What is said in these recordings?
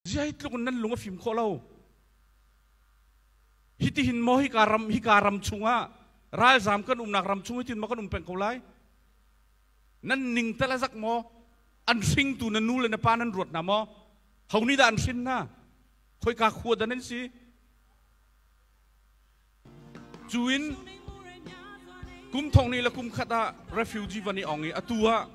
zeitluk in nan lung a fim khawh lo hitihin maw hika ram hika ram chungah ralzam kan umnak ram chung hitin maw kan um peng ko lai nan ning tal a zak maw an hringtu na nu le na pa nan ruat na maw honi dah an hrin na khoi ka khua da nan si Cu in kum thongni le kum khat ah refugee van i ong i atu ah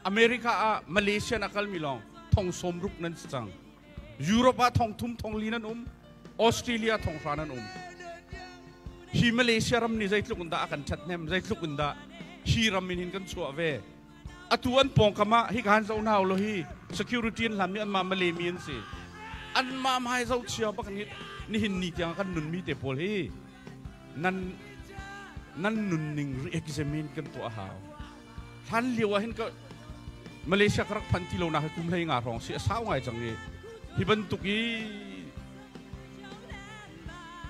America ah Malaysia in a kalmi lawng thong sawm ruk nan si cang. Europe ah thong thum thong li nan um. Australia thong hra nan um. Hi Malaysia ram nih zeitluk in dah a kan ṭhat hnem, zeitluk in dah hi ram in hin kan chuah ve. atu an pawngkam ah hi kan zoh hna ulaw hi security an hlan mi anmah Malay an si anmah hmai zoh cio bak ni nihin ni tiang kan nunmi te pawl hi nan nan nunning re-examine kan tuah hau hlan lio ah hin ka Malaysia ka rak phan ti lo na ka kum hlei nga rong si a sau ngai cang i hi bantuk i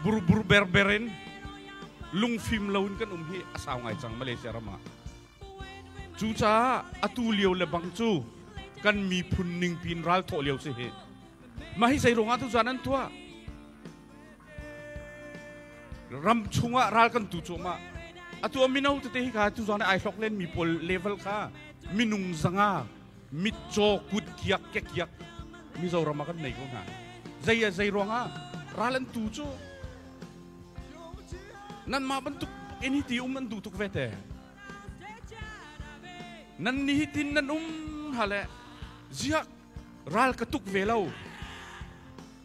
burbur berberin lungfim loin kan um hi a sau ngai cang Malaysia ram ah Cucaah atu lio le bang cu kan miphun ningpi in ral thawh lio si hi. Mah hi zei ruangah tu zan an tuah? Ram chungah ral kan tu cuahmah. Atu a mino tete hi ka tu zan ai hlok len mi pawl level kha minung zanga mitcaw kut kiak kekiak Mizoram ah kan nei ko hna. Zei ah zei ruangah ral an tu cu nan mah bantuk ini ti um an duh tuk ve te. Nan ni tin nan um hale ziak ral ka tuk ve lo.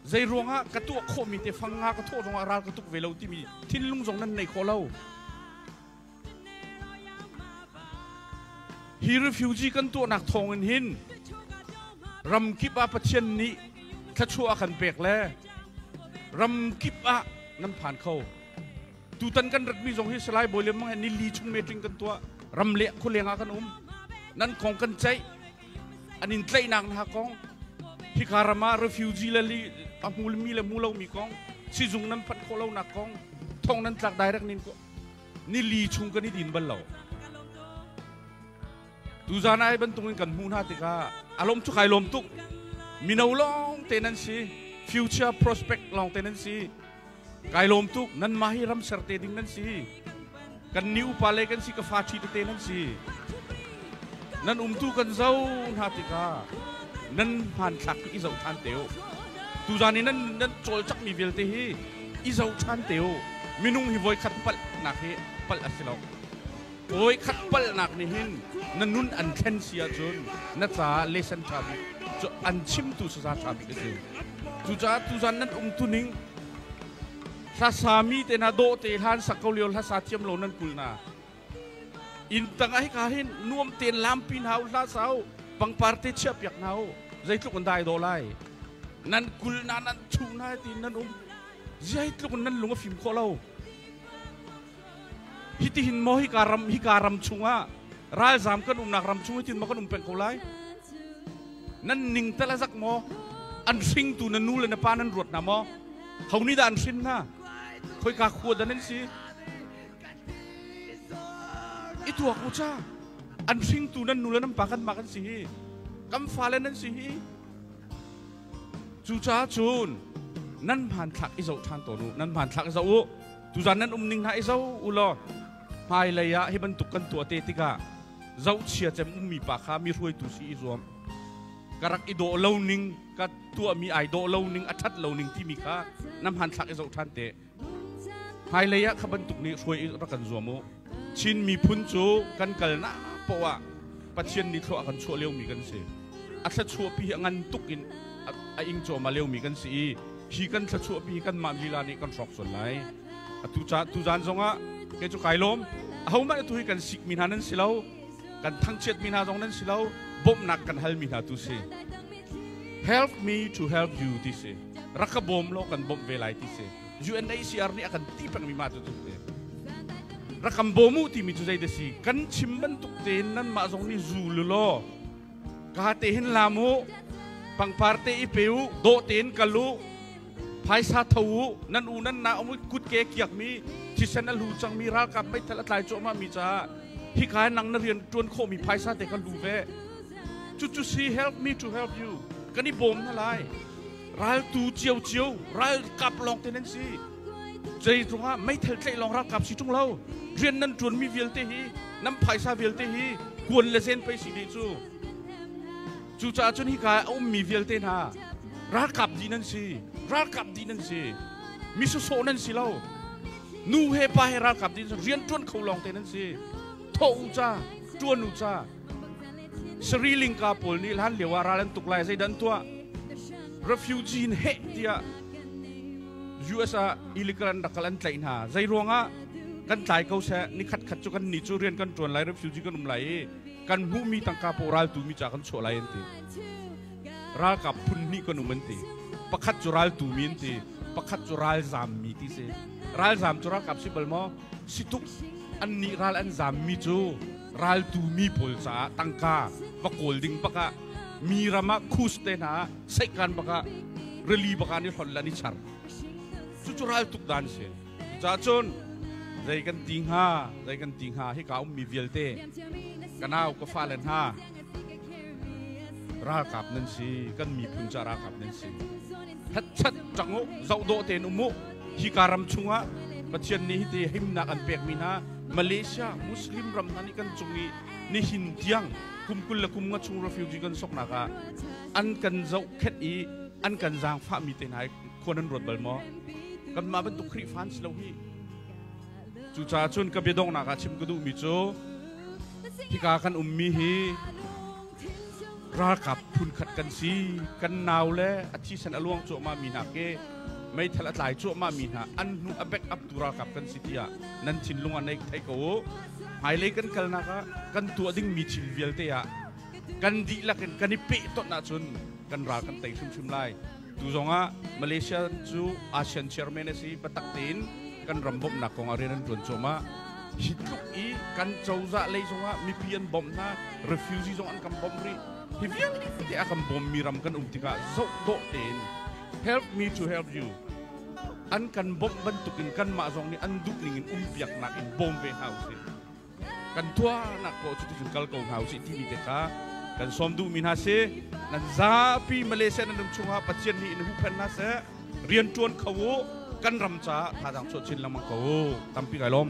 Zei ruangah ka tuah khawh mi te fang nga ka thawh zongah ral ka tuk ve lo timi thinlung zong nan nei kho lo. Hi refugee kan tuahnak thawng in hin ramkip ah Pathian nih thluachuah a kan pek le ramkip ah nan phan kho. Tutan kan ratmi zong hi Salai Bawi Lemang he nili chung metling kan tuah. Ram leng khuleng ah kan um. Nan kong kan ceih. An in tlaihnak hna kong hika ram ah refugee le li a mulmi le mulomi kong sizung nan phanh khawh lonak kong thong nan tlak direct nin nili chung kan i din bal lo tuzan ai bantuk in kan hmuh hna tikah a lawm cu kai lawm tuk mino lawng te nan si future prospect lawng te nan si kai lawm tuk nan mah hi ram ser te ding nan si kan ni upa le kan si ka fa ṭhi te nan si nan umtu kan zo hna tikah nan hmanthlak i zoh ṭhan te u tuzan i nan nan cawlcak mi vialte hi i zohṭhan te u. Minung hi voikhat palhnak hi palh a si lo. Voikhat palhnak nih hin na nun an thlen si ahcun na caah lesen ṭha bik cu an chimtu sasa ṭha bik a si. Cucaah tuzan nan um tuning hlasa mi te hna dawh te hlan sak ko lio hlasa thiam lo nan kul hna. inn tangah hika hin nuam tein lampi hna u hlah sa u pangpar te chiah piak hna u zeitluk in dai daw lai nan kul na nan chung na ti nan um zeitluk in nan lung a fim khawh lo hitihin mo hika ram hika ram chungah ralzam kan umnak ram chung hitin ma kan um peng ko lai nan ning tala zak mo an hringtu na nu le na pa nan ruat na mo honi da an hrin na khoi ka khua da nan si i tuak u ca an hringtu nan nu le nan pa kanmah kan si hi kan fale nan si hi cucaah cun nan hmanthlak i zoh ṭhan tawn u nan hmanthlak i zoh u tuzan nan um ning hna i zo u law hmailei ah hi bantuk kan tuah te tikah zohchia cem ummi pa kha mi hruaitu si i zuam ka rak i dawh lo ning ka tuahmi ai dawh lo ning a ṭhat lo ning timi kha na hmanthlak i zoh ṭhan te Hmailei ah kha bantuk nih hruai in rak kan zuam u. Chin miphun cu kan kalnak poh ah Pathian nih thlua a kan chuah liomi kan si. A thluachuahpi hi a ngan tuk in a, a ing cuahmah liomi kan si i hi kan thluachuahpi hi kanmah lila nih kan hrawk sual lai. A tu, ca, tu zan zongah kei cu kai lawm. Ahohmanh atu hi kan sikmi hna nan si lo. Kan thangchiatmi hna zong nan si lo. Bawmhnak kan halmi hna tu si. Help me to help you ti si. rak ka bawm law kan bawmh ve lai ti si UNHCR nih a kan ti pengmi ma cu tuk te rak kan bawm u timi cu zeidah si kan chim bantuk tein nan mah zong nih zu lu law ka te hin lam u pangpar te i pe u dawh tein kal u phaisa tho u nan u nan na um kut ke kiakmi thisen a lu cangmi ralkap meithal a tlai cuahmah mi caah hika nang na rian tuan khawhmi phaisa te ka lu ve cucu si help me to help you kan i bawm na lai Raltu ciocio ralkap lawng te nan si zeizong ah meithal tlaih lawng ralkap si ṭung lo rian nan ṭuanmi vialte hi nan phaisa vialte hi kuan le zen pei si de cu cucaah cun hika a ummi vialte hna ralkap di nan si ralkap di nan si mi sawsawh nan si lo nu he pa he ralkap di nan si rian ṭuan kho lawng te nan si thawh u ca ṭuan u ca sariling ka pawl nih hlan lio ah ral an tuk lai zeidan tuah refugee in heh tiah US ah illegal an rak kal an tlaih hna zei ruangah kan tlai ko seh ni khat khat cu kan ni cu rian kan tuan lai refugee kan um lai i kan hmuhmi tangka paw ral tu mi ca kan chuah lai an ti ralkap phun hnih kan um an ti pakhat cu ral tu mi an ti pakhat cu ral zam mi ti si ral zam cu ralkap si bal maw si tuk an nih ral an zam mi cu raltu mi pawl caah tangka va kawl ding bakah mi ram ah khus te hna seikan bakah rili bakah ni hlon la ni char cucu raltuk dan si cucaah cun zei kan ti hnga zei kan ti hnga hi ka um mi vialte ka nau ka fa le hna ralkap nan si kan miphun ca ralkap nan si Hetchet ṭang u, zoh dawh tein um u. Hika ram chungah Pathian nih hiti himnak an pekmi hna Malaysia Muslim ram hna nih kan cung i nihin tiang kum kul le kum nga chung refugee kan soknak ah an kan zohkhenh i an kan zaangfahmi te hna hi khua nan ruat bal maw? Kanmah bantuk Khrihfa an si lo hi. Cucaah cun ka biadongnak ah chim ka duhmi cu hika kan ummi hi ralkap phunkhat kan si kan nau le a thisen a luang cuahmah mi hna ke meithal a tlai cuahmah mi hna an hnu a back up tu ralkap kan si tiah nan thinlung ah nei thei ko u hmailei kan kalnak ah kan tuah ding mi thil vialte ah kan dihlak in kan i peh ton ahcun kan ral kan tei hrimhrim lai Tu zongah Malaysia cu ASEAN chairman a si biatak tein kan ram bawmhnak kongah rian an ṭuan cuahmah. Hi tluk i kan cozah lei zongah mipi an bawmh hna, refugee zong an kan bawmh rih. Hi vialte a kan bawmmi ram kan um tikah zoh dawh tein help me to help you an kan bawmh bantukin kanmah zong nih an duh ningin umpiaknak in bawm ve hna usih. kan tuahnak ko cu ticun kal ko hna usih timi te kha kan sawm duhmi hna si nan zapi Malaysia nan ram chungah Pathian nih in huhphen hna seh rian ṭuan kho u kan ram caah thadang chuah chin lengmang ko u tampi kai lawm